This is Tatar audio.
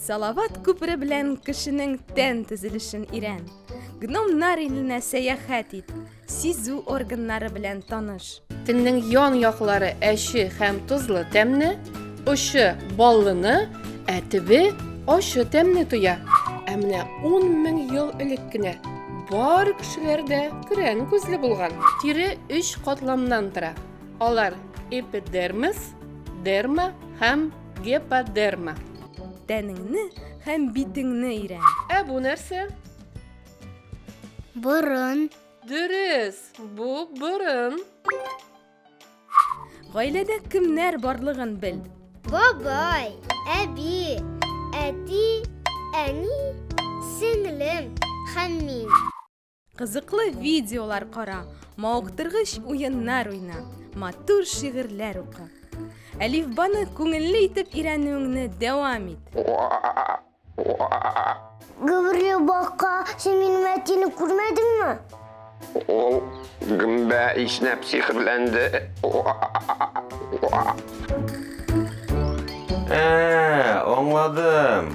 Салават күпере белән кешенең тән төзелешен өйрән. Гномнар иленә сәяхәт ит. Сизү органнары белән таныш. Телнең ян яклары әче һәм тозлы тәмне, очы баллыны, ә төбе ачы тәмне тоя. Ә менә 10 мең ел элек кенә бар кешеләрдә көрән күзле булган. Тире өч катламнан тора. Алар эпидермис, дерма һәм Геподерма. Тәнеңне һәм битеңне өйрән. Ә бу нәрсә? Борын. Дөрес, бу борын. Гаиләдә кемнәр барлыгын бел. Бабай, әби, әти, әни, сеңлем һәм мин. Кызыклы видеолар кара, мавыктыргыч уеннар уйна, матур шигырьләр укы. Әлифбаны күңелле итеп өйрәнүеңне дәвам ит. Гөберле бака, син минем әтине күрмәдеңме? Ул гөмбә иснәп сихерләнде. Ә, аңладым.